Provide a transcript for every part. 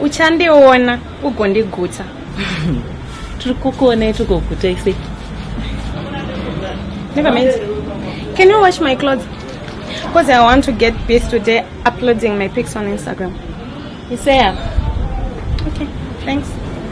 uchandiona ugondigutsa tiri kukuonai tigoguta ise never mind can you wash my clothes because i want to get busy today uploading my pics on instagram isea okay thanks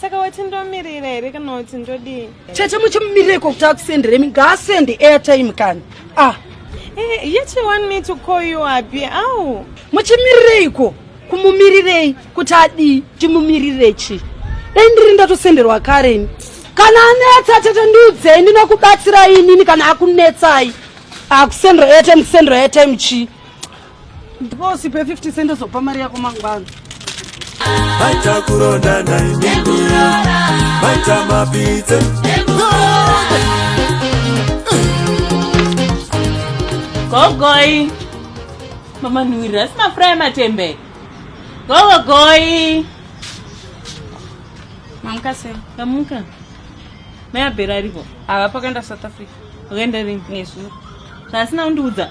saka wati ndomirira here kana kuti ndodii tete muchimumirira iko kuti akusendere mi ngaasende airtime kani ah eh, yet you want me to call you abi au muchimirireiko kumumirirei kuti adii timumirire chii dai ndiri ndatosenderwa kareni kana anetsa tete ndiudzei ndinokubatsira inini kana akunetsai akusendro airtime kusendro airtime chii Ndiposi pe 50 cent ozopa mari yako mangwana. Baita kuronda na imimi. Baita mapite. Gogoi. Mama Nuri, asi mafura ematembe. Gogoi. Mamka se. Mamka. Maya berarivo. Ava pakaenda South Africa. Wakaenda rini? Nezuro. Zvasina undiudza.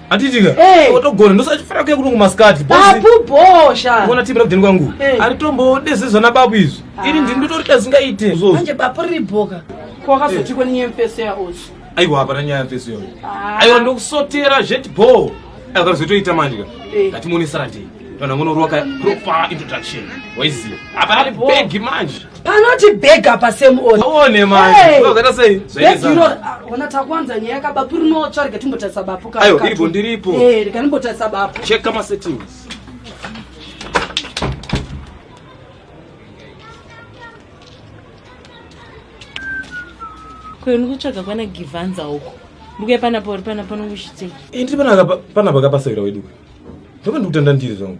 Atitika. Hey. Eh. Otogona ndosachifara kuya kunungu maskati. Babu bosha. Uona timbira kudeni kwangu. Hey. Eh. Aritombo dese zvana babu izvi. Ah. Iri ndini nditori dazingaite. Manje babu riri boka. Kwa kaso tikwa ni nyemfese ya osu. Aiwa hapa na nyaya fese yoyo. Ah. Aiwa ndokusotera jet bo. Aiwa kazotoita manje ka. Hey. Eh. Ngatimuone sarati. Kana ngono roka proper introduction. Waiziva. Hapa ari begi manje. panoti beg apa semuone maona ah, takwanza nyaya kabapu rinotsva rega timbotarisa bapu kaivo ndiripo eh, rega ndimbotarisa bapu cheka masettings kwenu kutsvaga kwana givanza uko ndikuya panapa uri panapa nokushitei eh, ndiri panapa kapasavira wedu ndopa ndikutanda ndiri zvangu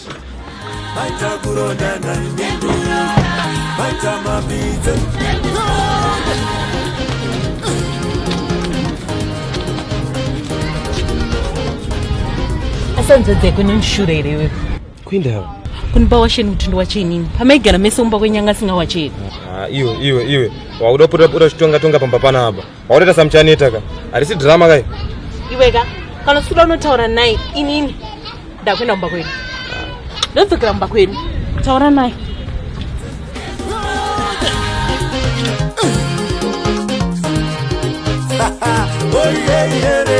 asanzodze kune mshura here iwe kuindawo kunipa washeni kuti ndiwachenini pamaigara mese umba kwenyanga asinga wacheni ah, iwe iwe iwe wakuda pota pota chitonga tonga pamba panapa Waureta samuchaneta ka. Harisi drama kai. Iwe ka kana usikuda unotaura naye inini ndakuenda kumba kwedu. Ndodzokera kumba kwedu. Taura naye. Oh yeah yeah yeah.